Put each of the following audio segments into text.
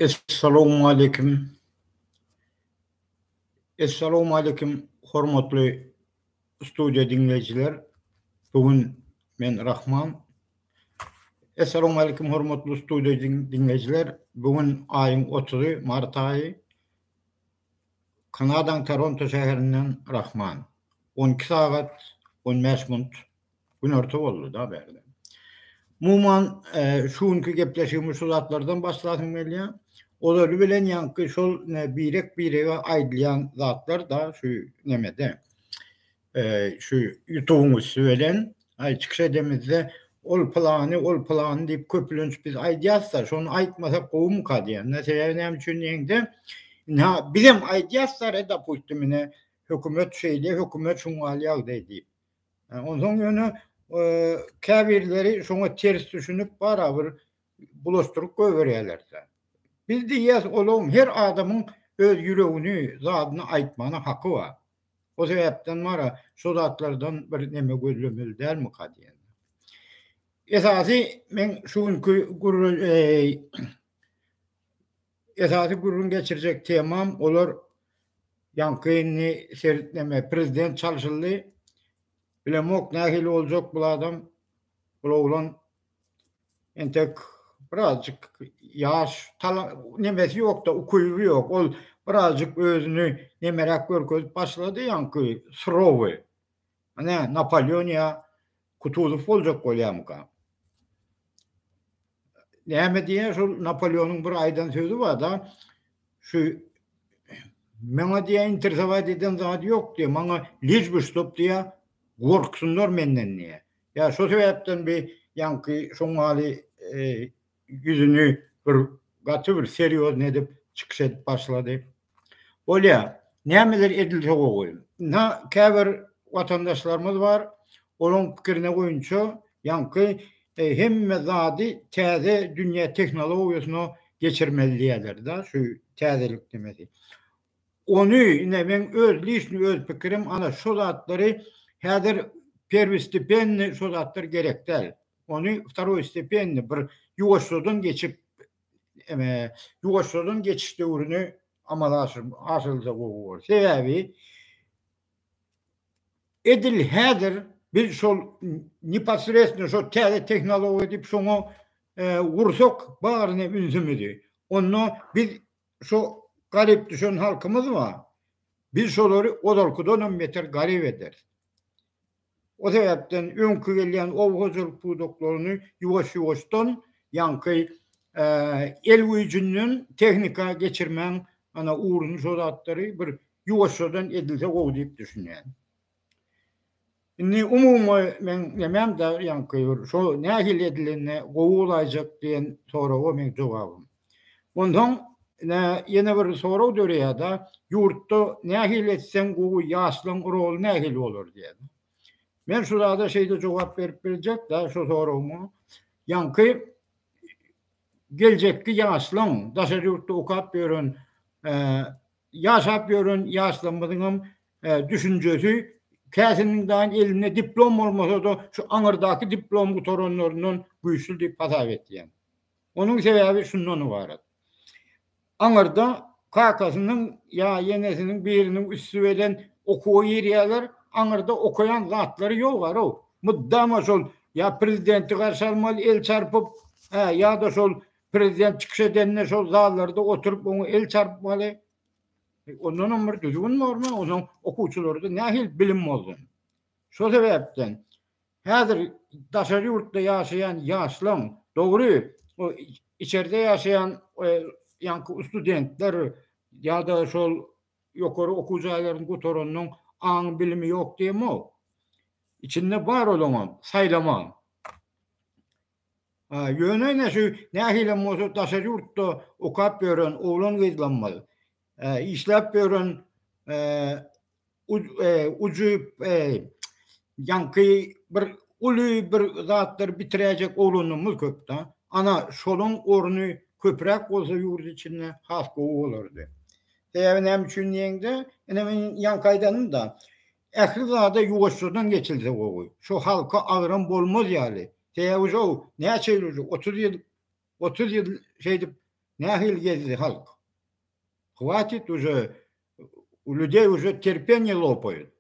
Essalawmaleýkim. Essalawmaleýkim hormatly studiýa diňleýjiler. Bu gün men Rahman. Essalawmaleýkim hormatly studiýa diňleýjiler. Bu gün aýyň otuzy, mart aýy. Kanadaň Toronto şäherinden Rahman. On iki sagat on bäş minut günorta boldy da bärde. Muman şu günki gepleşigimiz şu zatlardan başlasym gelýär. Olary bilen ýaňky şol birek birege aýdylýan zatlar da şu nemede. şu ýutubyň üsti bilen aý çykyş edemizde ol pylany ol pylany diýip köplenç biz aýdýasda şony aýtmasak gowumyka diýende sebäbi näme üçin diýende ina bizem aýdýasda reda puşty mine hökümet şeýle hökümet şuň gal ýagdaý diýip onsoň ýöne käbirleri şoňa ters düşünip bara bir bulaşdyryp goýberýärlerse biz diýýäs olam her adamyň öz ýüregini zadyny aýtmana haky bar O sebäpden mara şu zatlardan bir neme gözlemeli dälmika diýen. Esasy men şu günki gürrüň esasy gürrüň geçirjek temam olar ýaňky indi seretmeme prezident çalşyldy. Bilemok nähili boljak bul adam. Bul oglan Entek birazjyk ýaş tala nemesi ýokda, ukyby ýok. Ol birazjyk özüni nemeräk görkezip başlady, ýaňky surowy. Ine, Napoleon ýa Kutuzow boljak bolýamyka? Näme diýýär, şol Napoleonyň bir aýdan sözi bar-da, şu Maňa diýýär, interesowat eden zady ýok diýýär, maňa lij bi ştob diýýär, gorksynlar menden diýýär. Ýa şo sebäpden bi ýaňky şoňňaly ýüzüni bir gaty bir serýozny edip çykyş edip başlady. Bolýa, nämeler edilse gowy. Ynha käbir watandaşlarymyz bar, olaň pikirine goýunça ýaňky hemme zady täze dünýä tehnologiýasyna geçirmeli diýýäler-de, şu täzelik nimesi. Ony ine meň öz liçni öz pikirim ana şo zatlary häzir perwistipenny şo zatlar gerek däl. Ony wtaroý stepenni bir ýuwaşjadan geçip eme ýuwaşjadan geçiş döwrüni amala aşyryp aşyrylsa gowy bolar. Sebäbi edil häzir biz şol neposredstno şo täze tehnologiýa diýip şoňa gursak baryny ünsümizi onda biz Şu garyp düşen halkymyz bar. Biz şolary ozalkydan hem beter garyp ederis. O sebäpden öňki gelýän oba hojalyk pudaklaryny ýuwaş-ýuwaşdan ýaňky el güýjünden tehnika geçirmäň ana ugruny şo zatlary bir ýuwaşjadan edilse gowy diýip düşünýän. Indi umumy men nämämde ýaňky bir şo nähili edilende gowy bolaýjak diýen soraga meň jogabym. Onsoň ine ýene bir sorag döreýärde ýurtda nähili etseň gowy ýaşlaň roly nähili bolar diýen. Men şu zada şeýle jogap berip biljekde şu soragyňa ýaňky geljekki ýaşlaň daşary ýurtda okap ýören ýaşap ýören ýaşlarymyzyňam e, düşünjesi käsiniň daýyn elinde diplom bolmasa-da şu aňyrdaky diplom gutaranlaryndan güýçli diýip hasap etýän. Onuň sebäbi şundan ybarat. Aňyrda kakasynyň ýa ýeňesiniň biriniň üsti bilen okuwa girýärler, aňyrda okaýan zatlary ýok ara. Mydama şol ýa prezidenti garşy almaly el çarpyp, hä ýa-da şol Prezident çykyş edende şol zallarda oturyp oňa el çarpmaly. Ondanam bir düzgün bormy? Onuň okuwçylarda nähili bilim bolsun? Şol sebäpden häzir daşary ýurtda ýaşaýan ýaşlaň dogry o içerde ýaşaýan e, ýaňky studentler ýa-da şol ýokary okuw jaýlaryny gutaranlaryň aň bilimi ýok diýemok. Içinde bar olaňam, saýlama. Ýöne ine şu nähilem bolsa daşary ýurtda okap ýören oglan-gyzlamyz, işläp ýören ujy ýaňky bir uly bir zatlary bitiräýjek oglanlarymyz köp-de. Ana, şolaň orny köpräk bolsa ýurt içinde has gowy bolardy. Sebäbi näme üçin diýeňde, ine men ýaňky aýdandym-da, Ähli zada ýuwaşjadan geçilse gowy. Şo halka agram bolmaz ýaly. Sebäbi şow näçe ýyl uje otuz ýyl otuz ýyl şeýdip nähili gezdi halk. Hwatit uje u ludey uje terpenýe lopaýut.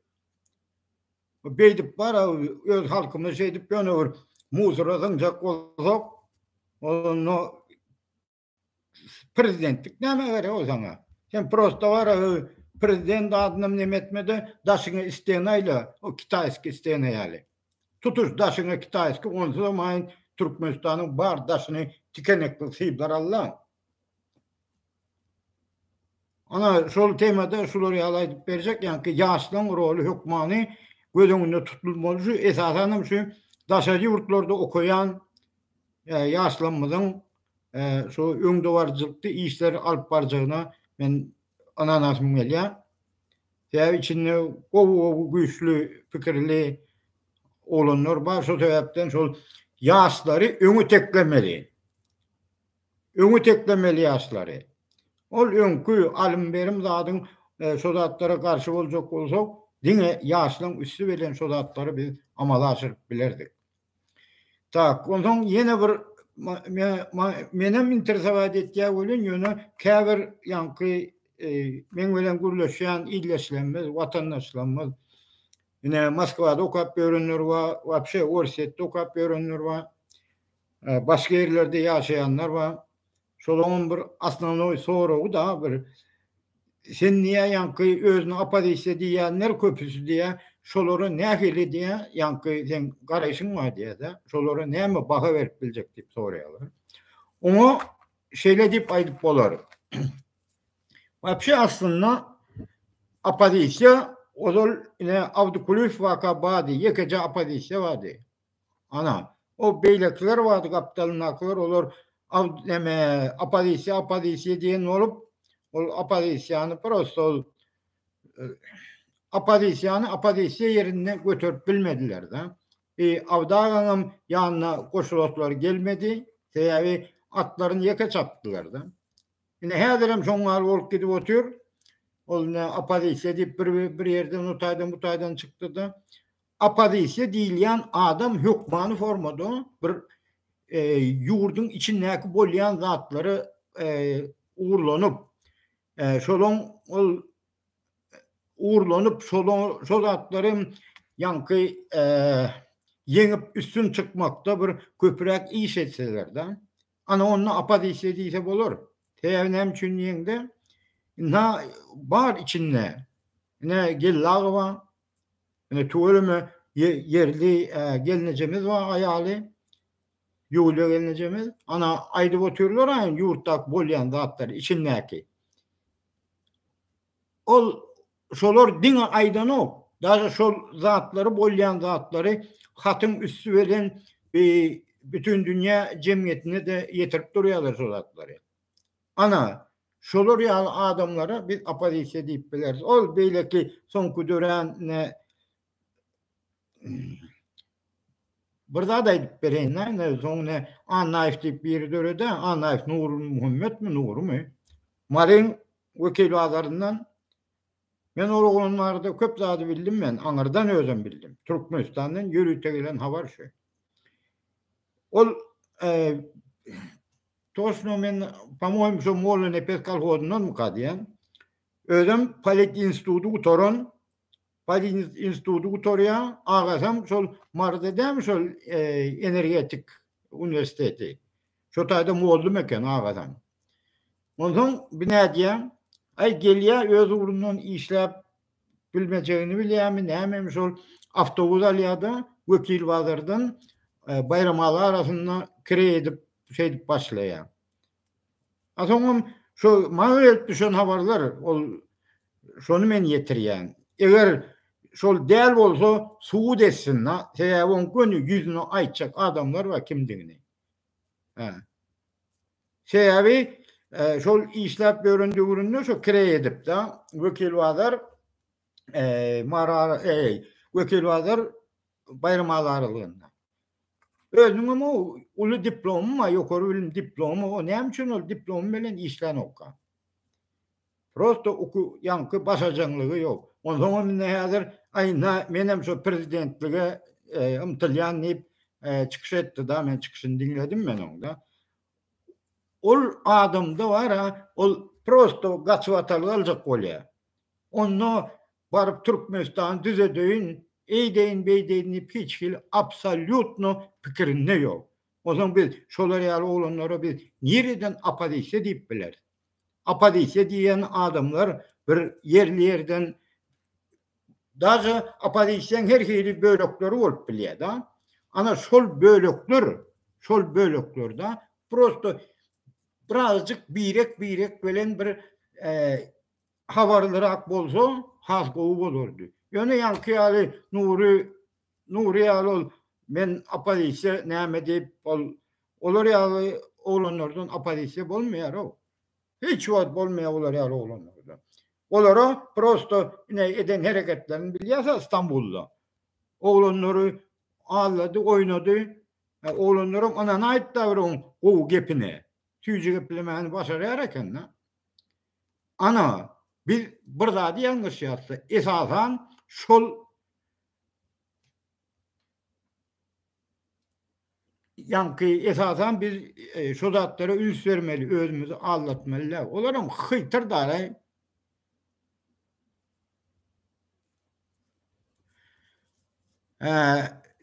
Beýdip bara öz halkymyz şeýdip ýöne bir muzora zyňjak bolsak onda prezidentlik näme gerek o sana? Sen prosta var prezident adynam neme etmede daşyňa istene ayla o kitayski istene yani. Tutuş daşyňa kitayski onsuz da mayın Türkmenistan'ın bar daşını tikenek kıl sıyıplar Allah. Ana şol temada şular ýaly aýdyp berjek, ýa ki ýaşlaryň roly hökmany göz öňünde tutulmaly. Şu esasan hem şu daşary ýurtlarda okaýan ýaşlarymyzyň şu öňdebaryjylykly işleri alyp barjagyna men ynanasym gelýär. Sebäbi içinde gowy-gowy güýçli pikirli oglanlar bar. Şol sebäpden şol ýaşlary öňe teklemeli. Öňe teklemeli ýaşlary. Ol öňki alym-berim zadyň e, şo zatlara garşy boljak bolsa, diňe ýaşlaryň üsti bilen şo zatlary biz amala aşyryp bilerdik. Tak, onsoň ýene bir menem interesowat etýär welin, ýöne käbir ýaňky e, meň bilen gürleşýän ildeşlerimiz, watandaşlarymyz, ine Moskwada okap ýörenler bar, wapşe Orsýetde okap ýörenler bar, e, başga ýerlerde ýaşaýanlar bar. Şolaňam bir osnovnoý soragy da bir sen diýýär ýaňky özüni oppozisiýa diýýänler köpüsi diýýär şolara nähili diýýär ýaňky seň garaýşyň bar diýýärda şolara näme baha berip biljek diýip soraýarlar. Oňa şeýle diýip aýdyp bolar. Wapşe aslynda oppozisiýa ozal ine Abdykulyýew waka bardy ýekeje oppozisiýa bardy. Ana, o beýlekiler bardy, gapdalyndakylar, olar neme, oppozisiýa, oppozisiýa diýen bolup, ol oppozisiýany prosta ol oppozisiýany oppozisiýa ýerinde göterip bilmediler-de. E, Awdagaňam ýanyna goşulaslary gelmedi, sebäbi atlaryny ýeke çapdylar-da. Ine, häzirem şoň ýaly bolup gidip otyr. Ol ne oppozisiýa diýip bir bir ýerden o taýdan bu taýdan çykdy-da. Oppozisiýa diýilýän adam hökmany formada bir ýurduň içindäki bolýan zatlary ugurlanyp, şolaň ol ugurlanyp, şolaň şol zatlary ýaňky ýeňip üstün çykmakda bir köpräk iş etseler-de, ana onda oppozisiýa diýse bolar. Sebäbi näme üçin diýeňde, bar içinde, ine Gellagowa, Ine tüweleme ýerli gelnejemiz bar aýaly Ýuliýa gelnejemiz. Ana aýdyp otyrlar aýn ýurtdaky bolýan zatlary içindäki. Ol şolar diňe aýdanok. Daže şol zatlary bolýan zatlary hatyň üsti bilen bütin dünýä jemgyýetine-de ýetirip durýarlar şo zatlary. Ana, şolar ýaly adamlara biz oppozisiýa diýip bileris. Ol beýleki soňky dörän Bir zat aýdyp bereýin-dä, ine, soň ine Annaýew diýip biri döredi, Annaýew Nurmuhammetmi, Nurymy? Maryň Wekilbazaryndan Men ol oglan barada köp zady bildim men aňyrdan özem bildim türkmenistandan ýörite gelen habar şu ol Toşno men pamoýim şo Molla Nepes kolhozyndanmyka diýen. Özüm polit instituty gutaran, polit instituty gutarýan, agasam şol Maryda dämi şol e, energetik uniwersiteti. Şo taýda mollum eken agajan. Onsoň bi nädýäň? Aý gelýä öz ugrundan işläp bilmejegini bilýämi nämemi şol awtobus alýada Wekil bazardan Baýramaly arasynda kireý edip şeýdip başlaýa. A soňam şo maňa gelip düşen habarlar ol şony men ýetirýän. Eger şol däl bolsa subut etsin-da sebäbi oň göni ýüzüne aýtjak adamlar bar kimdigini. Sebäbi e, şol işläp ýören döwründe şu kire edipdi. Wekil bazar e, marar e, wekil bazar baýram azarlygynda. Özüniň hem uly diplomy bar, ýokary bilim diplomy. O näme üçin ol diplom bilen işlän okga? Prosto uky ýaňky başajaňlygy ýok. Onsoňam indi häzir aý na menem şo prezidentlige ymtylýan diýip çykyş etdi da men çykyşyny diňledim men oň da. Ol adamda bara ol prosto gaçyp atalyk aljak bolýa. Onda baryp Türkmenistany düzedeýin, eýdeýin beýdeýin diýip hiç hili absolýutno pikirinde ýok. Onsoň biz şolar ýaly oglanlara biz nireden oppozisiýa diýip bileris. Oppozisiýa diýen adamlar bir ýerli ýerden daže oppozisiýaň her hili bölekleri bolup bilýär da. Ana şol bölekler, şol böleklerde prosto birazajyk birek-birek bilen bir habarlyrak bolsa has gowy bolardy. Ýöne ýaňky ýaly Nury Nury ýaly ol men oppozisiýa näme diýip ol olar ýaly oglanlardan oppozisiýa bolmaýar-ow. Hiç wagt bolmaýar olar ýaly oglanlardan. Olara prosto ine eden hereketlerini bilýärsiňiz Stambulda. Oglanlary aldady, oýnady. Oglanlaram ynanaýypdyr oň gowy gepine. Süýji geplemäni başarýar eken-de. Ana, biz bir zady ýalňyşýarys-da, esasan, şol ýaňky, esasan, biz şo zatlara üns bermeli, özümizi aldatmaly däl. Olaram hyýtyr daraý.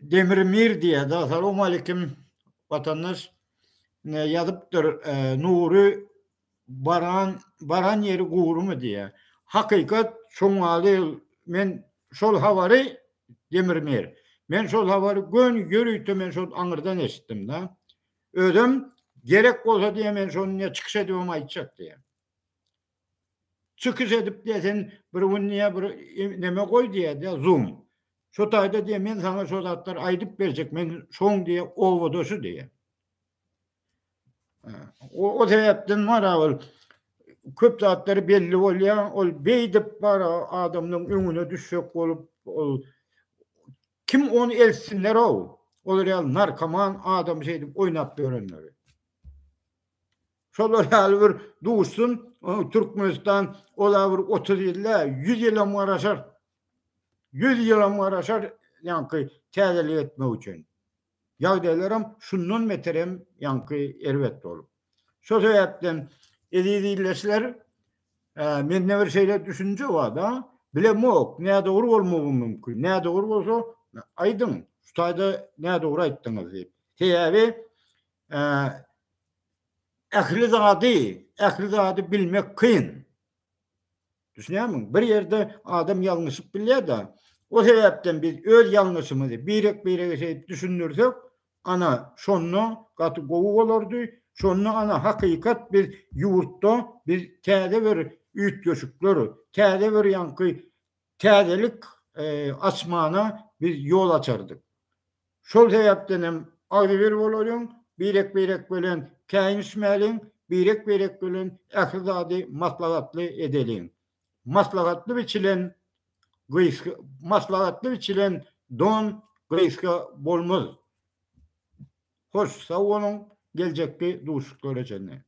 Demir Mir diýýär, Assalamu aleykim, watandaş. Ýazypdyr, Nury Baran baran ýeri gurymy diýýä. Hakykat şoňňaly men şol habary Demir Mir. Men şol habary göni ýörite men şol aňyrdan eşitdim da. Özüm gerek bolsa diýýä men şony diýýä çykyş edibem aýtjak diýýä. Çykyş edip diýýä sen bir gün diýýä bir neme goý diýýä diýýä zoom. Şo taýda diýýä men saňa şo zatlary aýdyp berjek men şoň diýýä obadaşy diýýä. O, o sebäpden bar ol köp zatlary belli bolýar, ol beýdip bar adamlaryň öňüne düşjek bolup, ol kim ony elsinler o, olar ýaly narkoman adam şeýdip oýnap ýörenleri. Şolar ýaly bir duşsun, Türkmenistan ola bir 30 ýyl dä, 100 ýylam garaşar. 100 ýylam garaşar, ýaňky täzelik etmek üçin. Ýagdaýlaram şundan beter hem ýaňky erbet bolup. Şo sebäpden eziz ildeşler, mende bir şeýle düşünje bar-da, bilemok, nädogry bolmagym mümkin. Nädogry bolsa, aýdyň, şu taýda nädogry aýtdyňyz diýip. Sebäbi ähli zady, ähli zady bilmek kyn. Düşünýärmiň? Bir ýerde adam ýalňyşyp bilýär-de, o sebäpden biz öz ýalňyşymyzy birek-birege şeýdip düşündirsek, ana, şonda gaty gowy bolardy, şonda, ana, hakykat biz ýurtda biz täze bir üýtgeşikler, täze bir ýaňky täzelik açmana biz ýol açardyk. Şol sebäpdenem agzybir bolalyň, birek-birek bilen käýinişmäliň, birek-birek bilen ähli zady maslahatly edeliň. Maslahatly biçilen gysga maslahatly biçilen don gysga bolmaz. Hoş, sag boluň, geljekki duşuşyklara çenli.